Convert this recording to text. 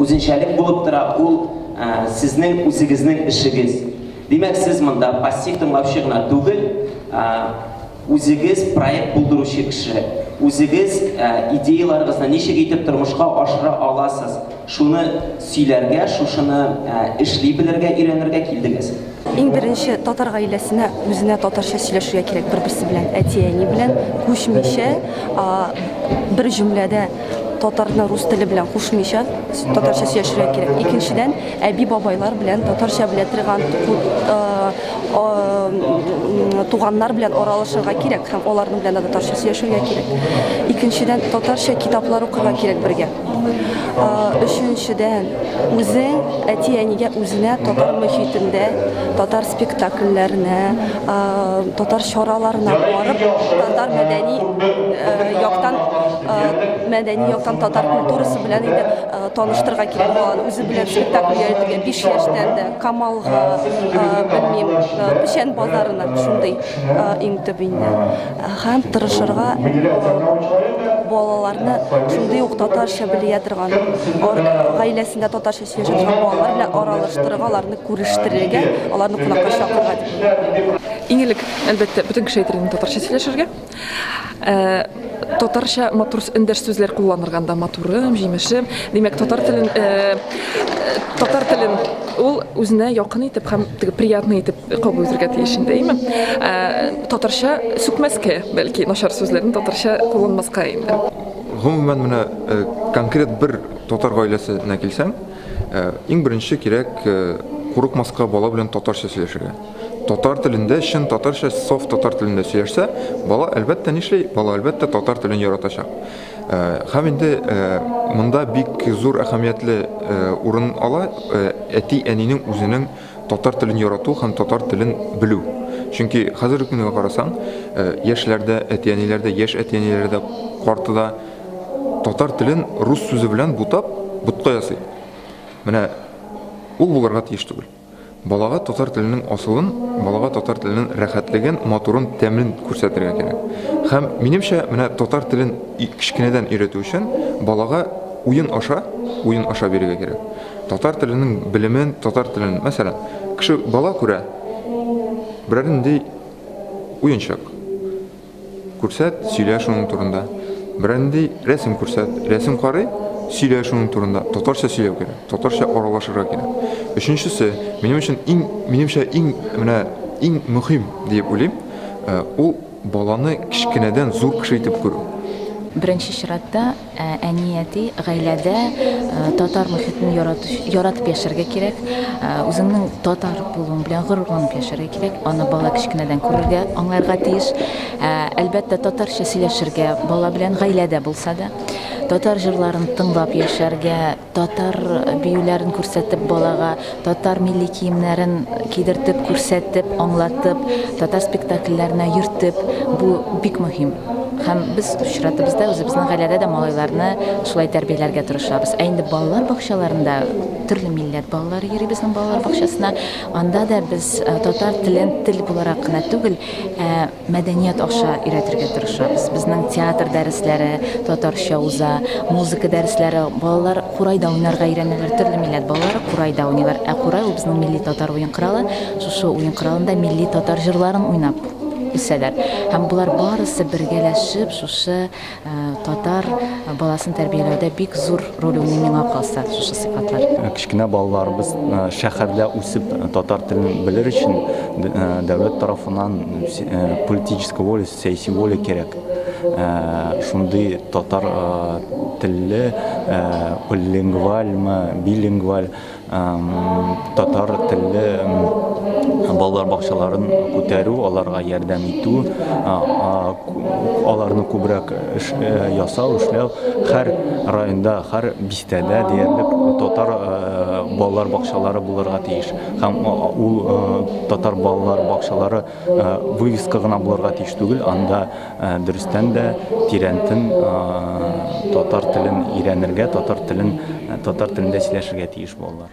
үзенчәлек булып тора, ул сезнең үзегезнең эшегез. Димәк, сез монда пассив тыңлаучы гына түгел, үзегез проект булдыручы кеше. Үзегез идеяларыгызны ничек итеп тормышка ашыра аласыз, шуны сөйләргә, шушыны эшли белергә, өйрәнергә килдегез. Иң беренче татар гаиләсенә үзенә татарча сөйләшергә кирәк бер-берсе белән, әти-әни белән күчмичә, бер җөмләдә татарны рус теле белән кушмыйча татарча сөйләшергә кирәк. Икенчедән, әби-бабайлар белән татарча белә торган туганнар белән аралашырга кирәк һәм аларның белән татарча сөйләшергә кирәк. Икенчедән, татарча китаплар укырга кирәк бергә. Өченчедән, үзең әти-әнигә үзенә татар мөхитендә, татар спектакльләренә, татар чараларына барып, татар мәдәни яктан мәдәни яктан татар культурасы белән инде таныштырга кирәк баланы. Үзе белән спектакль йөртергә 5 яшьтән дә Камалга, белмим, Печән базарына шундый иң төп инде. Һәм тырышырга балаларны шундый ук татарча белия торган, гаиләсендә татарча сөйләшә торган балалар белән аралаштырырга, аларны күрештерергә, аларны кунакка чакырырга дип уйлыйм. Иң элек, әлбәттә, бөтен кеше әйтер инде татарча сөйләшергә. Татарча матур эндәш сүзләр кулланырга анда, матурым, җимешем. Димәк, татар телен, татар телен ул үзенә якын итеп һәм теге приятный итеп кабул итәргә тиеш инде, әйме? Ә, татарча сүкмәскә, бәлки, начар сүзләрне татарча кулланмаска инде. Гомумән, менә э, конкрет бер татар гаиләсенә килсәң, э, иң беренче кирәк э, курыкмаска бала белән татарча сөйләшергә. Татар телендә, чын татарча, софт татар телендә сөйләшсә, бала әлбәттә нишли, бала әлбәттә татар телен яратачак. Хәм инде монда бик зур әһәмиятле урын ала әти-әнинең үзенең Татар телен ярату һәм татар телен белү. Чөнки хәзерге көнгә карасаң, э, яшьләр дә, әти-әниләр дә, яшь әти-әниләр дә, карты да татар телен рус сүзе белән бутап, ботка ясый. Менә ул булырга тиеш түгел. Балага татар теленең асылын, балага татар теленең рәхәтлеген, матурын, тәмен күрсәтергә кирәк. Һәм минемчә, менә татар телен кечкенәдән өйрәтү өчен балага уен аша, уен аша бирергә кирәк. Татар теленең белемен, татар телен, мәсәлән, кеше бала күрә, берәр нинди уенчык күрсәт, сөйлә шуның турында. Берәр нинди рәсем күрсәт, рәсем карый, сөйлә шуның турында. Татарча сөйләү кирәк, татарча аралашырга кирәк. Өченчесе, минем өчен иң, минемчә иң менә иң мөһим диеп уйлыйм, э, ул Баланы кечкенәдән зур кеше итеп күрү. Беренче чиратта, әни, әти, гаиләдә татар мохитен яратып яшәргә кирәк. Үзеңнең татар булуың белән горурланып яшәргә кирәк. Аны бала кечкенәдән күрергә, аңларга тиеш. Әлбәттә, татарча сөйләшергә, бала белән гаиләдә булса да. Татар җырларын тыңлап яшәргә, Татар биюләрен күрсәтеп балага, татар милли киемнәрен кидертеп, күрсәтеп, аңлатып, татар спектакльләренә йөртеп, бу бик мөһим. Һәм без чиратыбызда үзебезнең гаиләдә дә малайларны шулай тәрбияләргә тырышабыз. Ә инде балалар бакчаларында төрле милләт балалары йөри безнең балалар бакчасына. Анда да без татар телен тел буларак кына түгел, ә Мәдәният аша өйрәтергә тырышабыз. Безнең театр дәресләре татарча уза, музыка дәресләре, балалар курайда уйнарга өйрәнәләр. Төрле милләт балалары курайда уйныйлар. Ә курай ул безнең милли татар уен коралы. Шушы уен коралында милли татар җырларын уйнап үсәләр. Һәм болар барысы бергәләшеп шушы Татар баласын тәрбияләүдә бик зур роль уйный миңа калса шушы сыйфатлар. Кечкенә балаларыбыз шәһәрдә үсеп татар телен белер өчен дәүләт тарафыннан политическая воля, сәяси воля кирәк. Шундый татар телле, полилингвальмы, билингваль татар телле балалар бакчаларын күтәрү, аларга ярдәм итү, аларны күбрәк ясау, эшләү. Һәр районда, һәр бистәдә диярлек татар балалар бакчалары булырга тиеш. Һәм ул татар балалар бакчалары вывеска гына булырга тиеш түгел, анда Дөрестән дә тирәнтен татар телен өйрәнергә, татар телен, татар телендә сөйләшергә тиеш балалар.